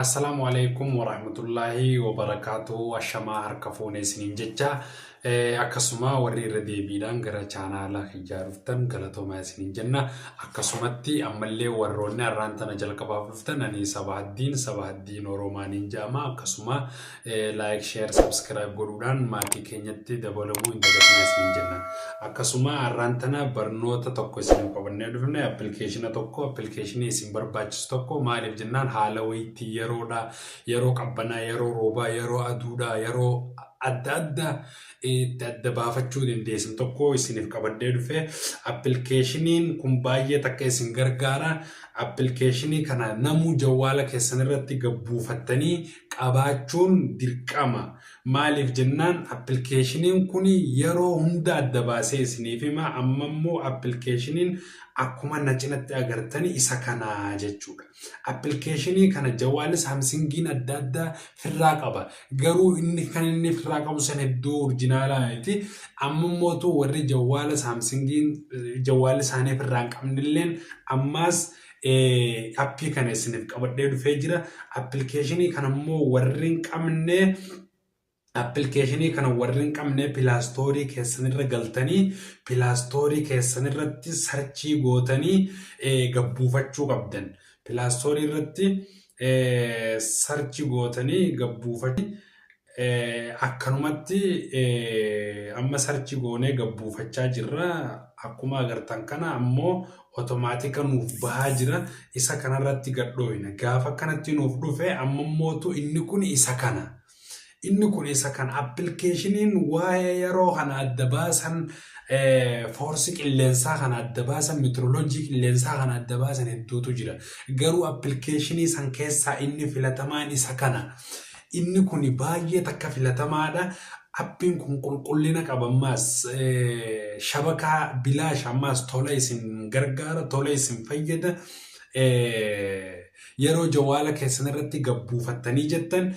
Assalaamu aleykum warahmatullaahi wabarakaatuhu ashamaa harka fuune isiniin jecha Eh, akkasuma warri irra deebiidhaan gara chaanaala kiyyaa dhuftan galatoomaa isiniin jenna akkasumatti ammallee warroonni har'aan tana jalqabaaf dhuftan ani saba haddiin saba haddiin oroomaaniin jedhama akkasuma Like, share, subscribe godhuudhaan maatii keenyatti dabalamuu hin dagatinaa isiniin jenna. Akkasuma har'aan tana barnoota tokko isiniif qabannee dhufne appilikeeshina tokko appilikeeshinii isin barbaachisu tokko maaliif jennaan haala wayiitti yeroodha yeroo qabbanaa yeroo roobaa yeroo aduudha yeroo adda adda itti adda baafachuu dandeessan tokko isiniif qabannee dhufe appilikeeshiniin kun baay'ee takka isin gargaara appilikeeshinii kana namuu jawwaala keessan irratti gabbuufattanii qabaachuun dirqama. Maaliif jennaan appilkeeshiniin kun yeroo hunda adda baasee isiniif hima amma immoo appilkeeshiniin akkuma na cinatti agartani isa kana jechuudha. Appilkeeshinii kana jawaali saamsingiin adda addaa firraa qaba. Garuu inni kan inni firraa qabu san hedduu orjinaalaa miti. Amma immootu warri jawaala saamsingiin jawaali isaanii firraa hin qabnilleen ammaas appii kana isiniif qabadhee dhufee jira. Appilikeeshinii kana immoo warri hin qabne appilikeeshinii kana warri hin qabne pilaastoorii keessanirra galtanii pilaastoorii keessanirratti sarchii gootanii gabbuufachuu qabdan. Pilaastoorii irratti sarchi gootanii gabbuufachuu Akkanumatti amma sarchi goonee gabbuufachaa jirra. Akkuma agartan kana ammoo otomaatika nuuf bahaa jira. Isa kanarratti gadhooyna. Gaafa akkanatti nuuf dhufe amma mootu inni kun isa kana. Inni kun isa kana. Appilikeeshiniin waa'ee yeroo kana adda baasan foorsi qilleensaa kana adda baasan meetirooloojii qilleensaa kana adda baasan hedduutu jira. Garuu appilikeeshinii san keessaa inni filatamaan isa kana. Inni kuni baay'ee takka filatamaadha. Appiin kun qulqullina qaba ammaas shabakaa bilaash ammaas tola isin gargaara tola isin fayyada. Yeroo jawaala keessan irratti gabbuufattanii jettan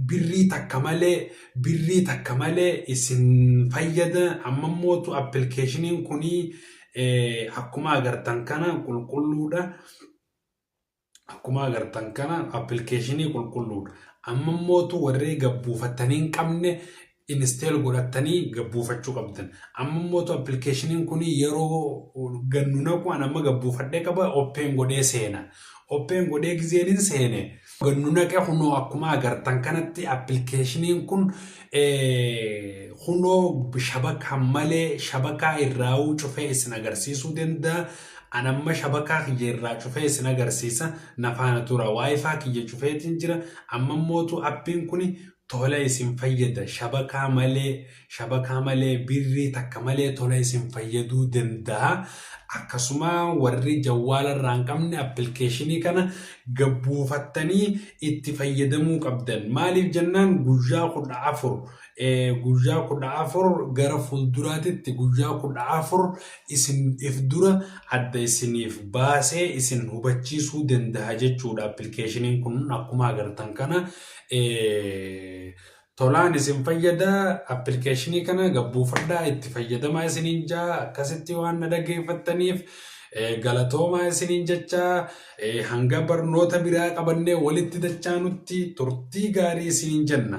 birrii takka malee birrii takka malee isin fayyada. Amma mootu appilikeeshiniin kuni akkuma agartan kana qulqulluudha. Akkuma agartan kana appilikeeshinii qulqulluudha. Amma immootu warri gabbuufattanii hin qabne inisteel godhattanii gabbuufachuu qabdan. Amma immootu appilikeeshiniin kun yeroo gannu naqu an amma gabbuufadhee qaba oppeen godhee seena. Oppeen godhee gizeen hin seene gannu naqe kunoo akkuma agartan kanatti appilikeeshiniin kun kunoo shabakaa malee shabakaa irraa'uu cufee isin agarsiisuu danda'a. An amma shabakaa kiyya irraa cufee isin agarsiisa na faana tura wifi kiyya cufeetin jira amma mootu appiin kuni tola isin fayyada shabakaa malee shabakaa malee birrii takka malee tola isin fayyaduu dandaha akkasuma warri jawwaala irraa hin qabne appilkeeshinii kana gad buufattanii itti fayyadamuu qabdan maaliif jennaan guyyaa 14 guyyaa 14 gara fuulduraatitti guyyaa 14 isin if dura adda isiniif baasee isin hubachiisuu danda'a jechuudha appilikeeshiniin kun akkuma agartan kana tolaan isin fayyada appilikeeshinii kana gabbuufadhaa itti fayyadamaa isiniin jaa akkasitti waan na dhaggeeffattaniif galatoomaa isiniin jechaa hanga barnoota biraa qabannee walitti dachaanutti turtii gaarii isiniin jenna.